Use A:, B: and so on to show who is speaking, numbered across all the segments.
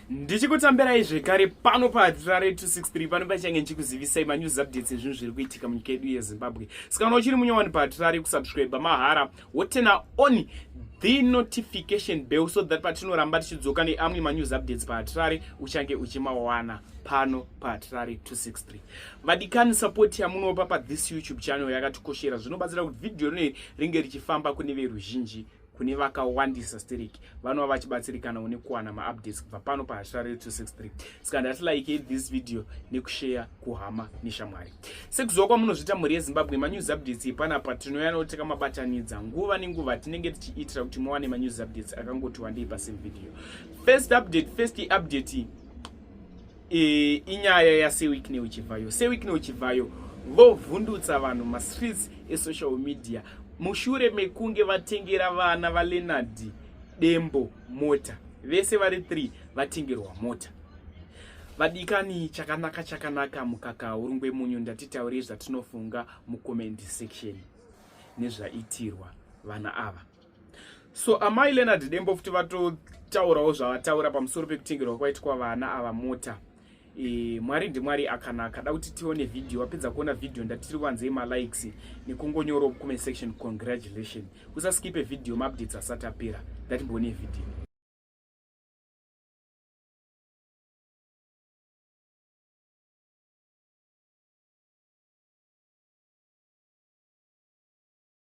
A: ndichikutambirai zvekare pano padrare 263 pano pachange ndichikuzivisai manews updates ezvinhu zviri kuitika munyika yedu yezimbabwe saka kana uchiri munyowani padrare kusubscribe mahara wotena on the notification bell so that patinoramba tichidzoka neamwe manews updates padrare uchange uchimawana pano padrare 263 vadikani support yamunopa pathis youtube channel yakatikoshera zvinobatsira kuti vhidhiyo rinoiri ringe richifamba kune veruzhinji kune vakawandisa stereki vanova vachibatsirikana une kuwana maupdates kubva pano pahasha radio 263 saka ndati like this video nekushare kuhama neshamwari sekuziva kwamunozviita mhuri yezimbabwe manews updates epanapa tinoyanawo tikamabatanidza nguva nenguva tinenge tichiitira kuti muwane manews updates akangoti wandei pasame video first update first update e, inyaya yasewikne uchivhayo sewikne uchivhayo vovhundutsa vanhu mastreets esocial media mushure mekunge vatengera vana valeonard dembo mota vese vari 3 vatengerwa mota vadikani chakanaka chakanaka mukaka urungwe munyu ndatitaurei zvatinofunga mucomment section nezvaitirwa vana ava so amai leonard dembo futi vatotaurawo zvavataura pamusoro pekutengerwa kwaitwa vana ava mota e, mwari ndimwari akanaka da kuti tione vhidhiyo wapedza kuona vhidhiyo ndatiri wanzei malikes nekungonyoro kume section congratulation usaskipe vhidhiyo maupdates asati apera ndatimboone vhidhiyo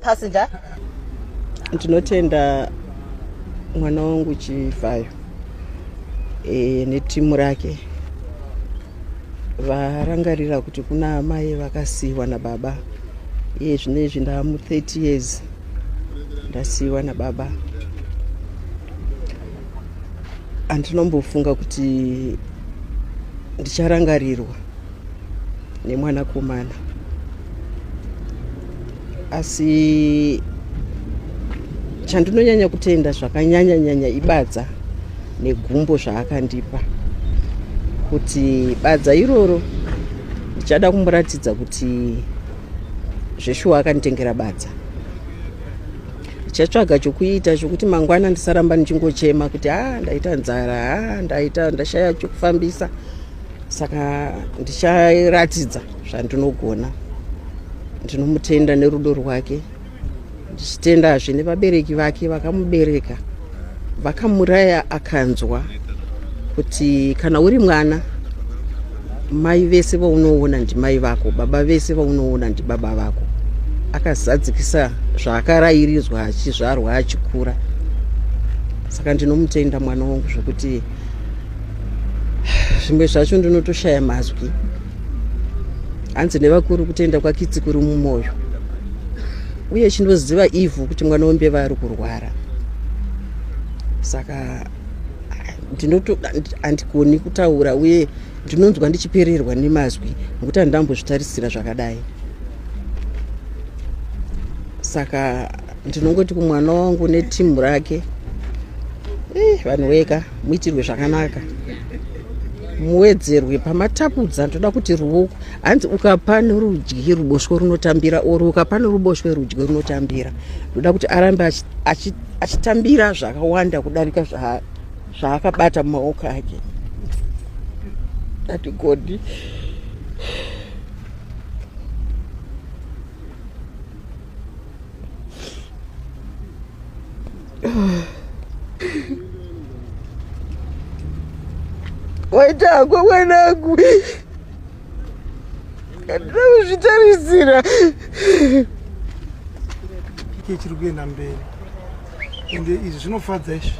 B: passenger ndinotenda
C: mwana wangu chivhayo e, netimu rake varangarira kuti kuna amai vakasiiwa nababa iye zvino izvi ndamu 30 years ndasiiwa nababa andinombofunga kuti ndicharangarirwa nemwanakomana asi chandinonyanya kutenda zvakanyanya nyanya ibadza negumbo zvaakandipa kuti badza iroro ndichada kumuratidza kuti zveshuwa akanditengera badza ndichatsvaga chokuita chokuti mangwana ndisaramba ndichingochema kuti ha ah, ndaita nzara ha ah, ndaita ndashaya chokufambisa saka ndicharatidza zvandinogona ndinomutenda nerudo rwake ndichitendazve nevabereki vake vakamubereka vakamuraya akanzwa kuti kana uri mwana mai vese vaunoona ndimai vako baba vese vaunoona ndibaba vako akazadzikisa zvaakarairizwa achizvarwa achikura saka ndinomutenda mwana wangu zvekuti zvimwe zvacho ndinotoshaya mazwi hanzi nevakuru kutenda kwakitsi kuri mumwoyo uye chinoziva ivhu kuti mwana wembeva ari kurwara saka ndinotoandigoni kutaura uye ndinonzwa ndichipererwa nemazwi nokuti handambozvitarisira zvakadai saka ndinongoti kumwana wangu netimu rake eh, vanhu weka muitirwe zvakanaka muwedzerwe pamatapudza ndoda kuti ruoko hanzi ukapa nerudyi ruboshwe runotambira or ukapa neruboshwe rudyi runotambira ndoda kuti arambe achitambira zvakawanda kudarika zvaakabata mumaoko ake ati godi waitangwa mwanangu andina kuzvitarisira
D: ike chiri kuenda mberi ende izvi zvinofadza izvi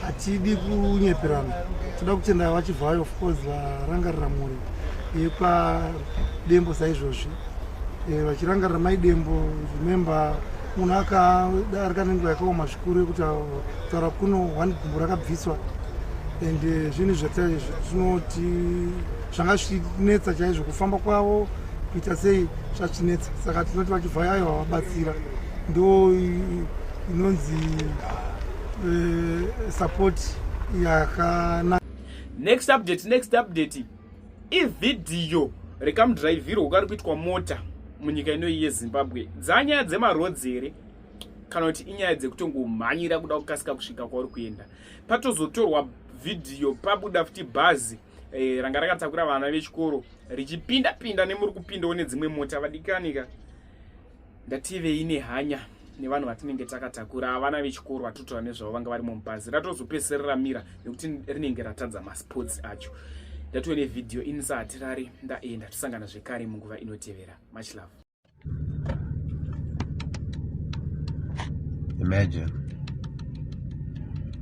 D: hatidi kunyeperana toda kutenda vachivhayo of course varangarira mhuri yepa dembo saizvozvi eh, vachirangarira mai dembo remember munhu akadarika nenguva yakaoma zvikuru yekuti kutaura kuno one gumbo rakabviswa and eh, zvinhu zvatinoti zvanga zvichinetsa chaizvo kufamba kwavo kuita sei zvachinetsa saka tinoti vachibva yayo vavabatsira ndo inonzi eh, support yakanaka next
A: update next update ivhidhiyo rekamudhiraivhirwo kari kuitwa mota munyika inoyi yezimbabwe dzanyaya dzemarodzi here kana kuti inyaya dzekutongomhanyira kuda kukasika kusvika kwauri kuenda patozotorwa vhidhiyo pabuda futi bhazi e, ranga rakatakura vana vechikoro richipinda pinda nemuri kupindawo nedzimwe mota vadikanika Ndativei nehanya nevanhu vatinenge takatakura havana vechikoro vatotaura nezvavo vanga varimo mubhazi ratozopesera ramira nekuti rinenge ratadza masports acho ndatove nevhidhiyo inisa hatirari ndaenda tosangana zvekare munguva inotevera much love
E: imagine